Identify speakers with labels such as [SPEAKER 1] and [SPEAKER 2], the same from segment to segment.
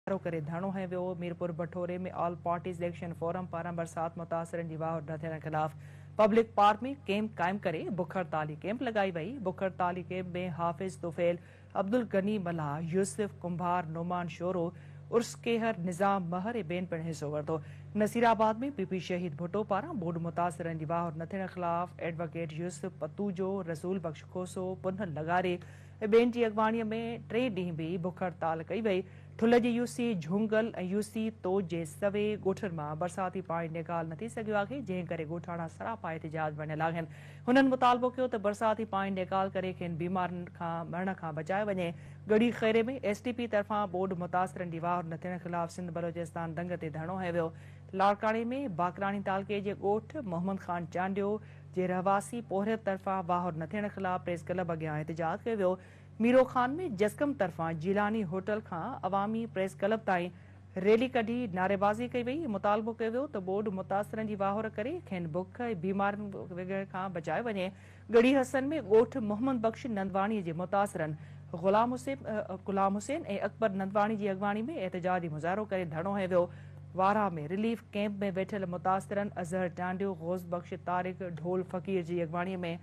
[SPEAKER 1] ڌارو ڪري ڌرڻو هنيو ويو، Mirpur Bathoro ۾ all parties action forum پاران برسات متاثرن جي واهه نه ٿيڻ خلاف پبلڪ پارڪ ۾ ڪيمپ قائم ڪري بک هڙتالي ڪيمپ لڳائي وئي، بک هڙتالي ڪيمپ ۾ حافظ طفيل، عبدالغني ملاح، يوسف ڪنڀار، نعمان شورو، عرس ڪيهر، نظام مهر ۽ ٻين پڻ حصو ورتو، نصيرآباد ۾ پي پي شهيد ڀٽو پاران ٻوڏ متاثرن جي واهه نه ٿيڻ خلاف ايڊووڪيٽ يوسف پتوجو، رسول بخش کوسو، پنهل لغاري، ٻين جي اڳواڻي ۾ ٽي ڏينهن به بک هڙتال ڪئي وئي. ٺل جي U C Jhongal ۽ U C تو جي سوي ڳوٺن مان برساتي پاڻي نيڪال نه ٿي سگهيو آهي، جنهن ڪري ڳوٺاڻا سراپا احتجاج بڻيل آهن. هنن مطالبو ڪيو ته برساتي پاڻي نيڪال ڪري کين بيمارين کان مرڻ کان بچايو وڃي. Garhi Khairo ۾ S T P طرفان ٻوڏ متاثرن جي واهر نه ٿيڻ خلاف سنڌ بلوچستان ڌنگ تي ڌرڻو هنيو ويو. لاڙڪاڻي ۾ باقراڻي تعلقي جي ڳوٺ محمد خان چانڊيو، جي رهواسي پورهيت طرفان واهر نه ٿيڻ خلاف پريس ڪلب اڳيان احتجاج ڪيو ويو، ميرو خان ۾ جسقم طرفان جيلاني هوٽل کان عوامي پريس ڪلب تائين ريلي ڪڍي نعريبازي ڪئي وئي، مطالبو ڪيو ويو ته ٻوڏ متاثرن جي واهر ڪري کين بک ۽ بيمارين وگهڻ کان بچايو وڃي، ڳڙهي حسن ۾ ڳوٺ محمد بخش نندواڻي جي متاثرن غلام حسين ۽ اڪبر نندواڻي جي اڳواڻي ۾ احتجاجي مظاهرو ڪري ڌرڻو هنيو ويو، وارهه ۾ رليف ڪئمپ ۾ ويٺل متاثرن اظهر ٽانڊيو، غوث بخش، طارق، ڍول فقير جي اڳواڻي ۾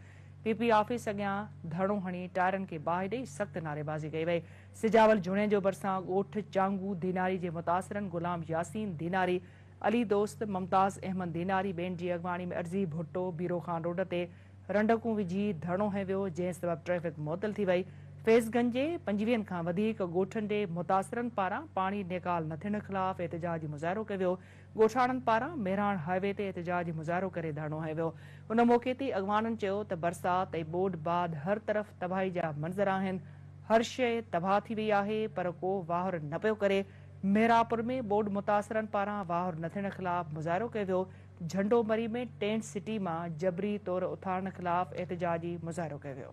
[SPEAKER 1] پي پي آفيس اڳيان ڌرڻو هڻي ٽائرن کي باهه ڏئي سخت نعريبازي ڪئي وئي. سجاول جوڻيجو ڀرسان ڳوٺ چانگو ڌيناري جي متاثرن غلام ياسين ڌيناري، علي دوست، ممتاز احمد ڌيناري ٻين جي اڳواڻي ۾ عرضي ڀٽو، بيرو خان روڊ تي، رنڊڪون وجهي ڌرڻو هنيو ويو، جنهن سبب ٽريفڪ معطل ٿي وئي. فيض گنج جي پنجويهن کان وڌيڪ ڳوٺن جي متاثرن پاران پاڻي نيڪال نه ٿيڻ خلاف احتجاجي مظاهرو ڪيو ويو. ڳوٺاڻن پاران مهراڻ هاء وي تي احتجاجي مظاهرو ڪري ڌرڻو هنيو ويو. ان موقعي تي اڳواڻن چيو ته برسات ۽ ٻوڏ بعد هر طرف تباهي جا منظر آهن، هر شيء تباهه ٿي وئي آهي پر ڪو واهر نه پيو ڪري. مهراپور ۾ ٻوڏ متاثرن پاران واهر نه ٿيڻ خلاف مظاهرو ڪيو ويو. جهنڊو مري ۾ ٽينٽ سٽي مان جبري طور اٿارڻ خلاف احتجاجي مظاهرو ڪيو ويو.